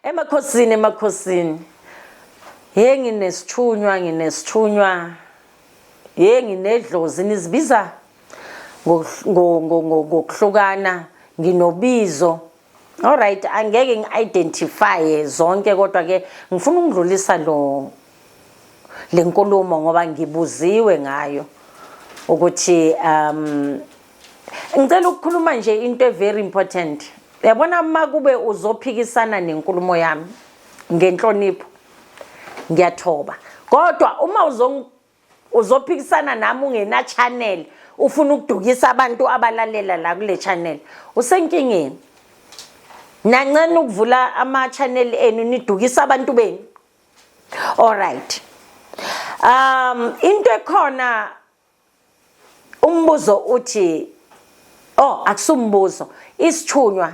Emakhosini emakhosini. Hey nginesithunywa nginesithunywa. Hey nginedlozi nizibiza ngokuhlukana nginobizo. All right angeke ngiidentify zonke kodwa ke ngifuna ukudlulisa lo lenkulumo ngoba ngibuziwe ngayo ukuthi um Ngicela ukukhuluma nje into e very important. Yabona uma kube uzophikisana nenkulumo yami ngenhlonipho ngiyathoba. Kodwa uma uzong uzophikisana nami ungena channel ufuna ukudukisa abantu abalalela la kule channel usenkingeni. Nancane ukuvula ama channel enu nidukisa abantu benu. All right. Um into ekhona umbuzo uthi oh akusumbuzo isithunywa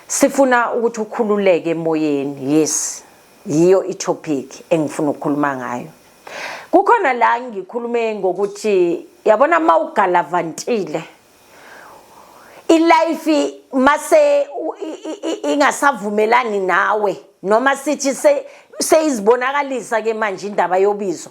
sifuna ukuthi ukhululeke emoyeni yes yiyo itopic engifuna ukukhuluma ngayo kukhona la ngikhulume ngokuthi yabona uma ugalavantile ilife mase ingasavumelani nawe noma sithi seyizibonakalisa ke manje indaba yobizo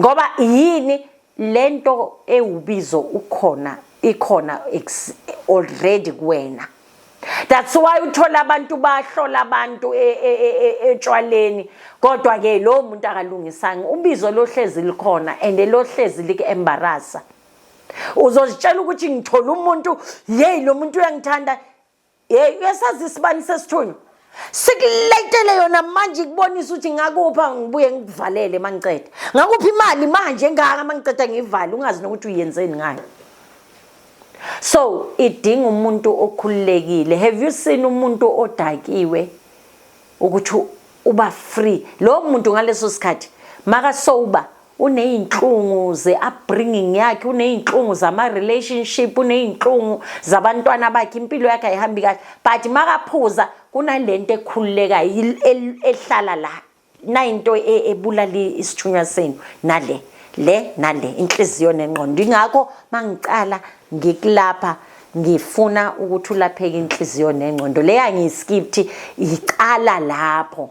ngoba yini lento ewubizo ukhona ikhona already kuwena that's why uthola abantu bahlola abantu e, e, e, etshwaleni kodwa ke lo muntu akalungisanga ubizo lohlezi likhona and lohlezi like embarrassa uzozitshela ukuthi ngithola umuntu yeyi lo muntu uyangithanda yeyi uyasazi isibani sesithunywa sikuletele yona manje ikubonisa ukuthi ngakupha ngibuye ngikuvalele mangiqeda ngakuphi imali manje engaka mangiqeda ngiyivale ungazi nokuthi uyenzeni ngayo so idinga umuntu okhululekile have you seen umuntu odakiwe ukuthi uba free lowo muntu ngaleso sikhathi makasoba unezinhlungu ze-upbringing yakhe unezinhlungu zama-relationship unezinhlungu zabantwana bakhe impilo yakhe ayihambi kahle but makaphuza kunalento ekhululekayo ehlala la nayinto e, ebulala isithunywa senu nale le nale inhliziyo nengqondo ingakho mangicala ngikulapha ngifuna ukuthi ulapheke inhliziyo nengqondo leya ngiyiskipthi icala lapho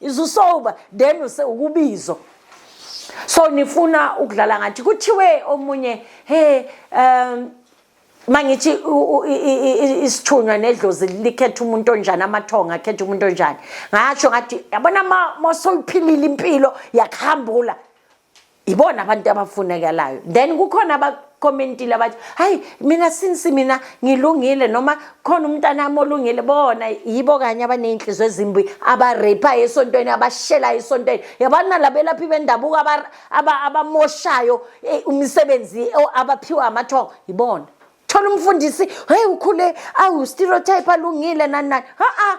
is usober then use ukubizo so nifuna ukudlala ngathi kuthiwe omunye he um mangithi isithunywa nedlozi likhetha umuntu onjani amathonga akhetha umuntu onjani ngasho ngathi yabona uma soyiphilile impilo yakuhambula ibona abantu abafunekalayo then kukhona abacommentile abathi hayi mina since mina ngilungile noma khona umntanami olungile bona yibo kanye abaney'nhliziyo ezimbi abareyiphayo esontweni abashelayo esontweni yabani nalabelaphi bendabuko abamoshayo eh, umsebenzi eh, abaphiwa amathongo yibona thola umfundisi heyi ukhule awu-stereotype alungile nani nani ha-a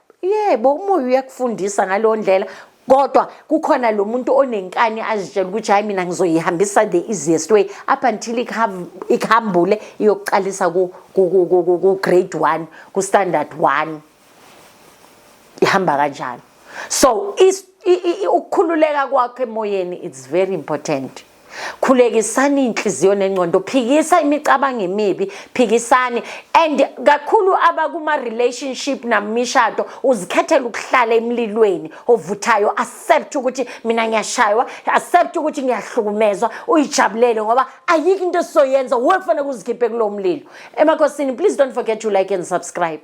yebo umoya uyakufundisa ngaleyo ndlela kodwa kukhona lo muntu onenkani azitshela ukuthi hhayi mina ngizoyihambisa the easiest way up until ikuhambule iyokuqalisa ku-grade one ku-standard one ihamba kanjalo so ukukhululeka kwakho emoyeni it's very important khulekisani iy'nhliziyo nengcondo phikisa imicabango emibi phikisani and kakhulu abakuma-relationship namishado uzikhethela ukuhlala emlilweni ovuthayo accept ukuthi mina ngiyashaywa accept ukuthi ngiyahlukumezwa uyijabulele ngoba ayikho into esizoyenza we kufanele kuzikhiphe kulowo mlilo emakhosini please don't forget to like and subscribe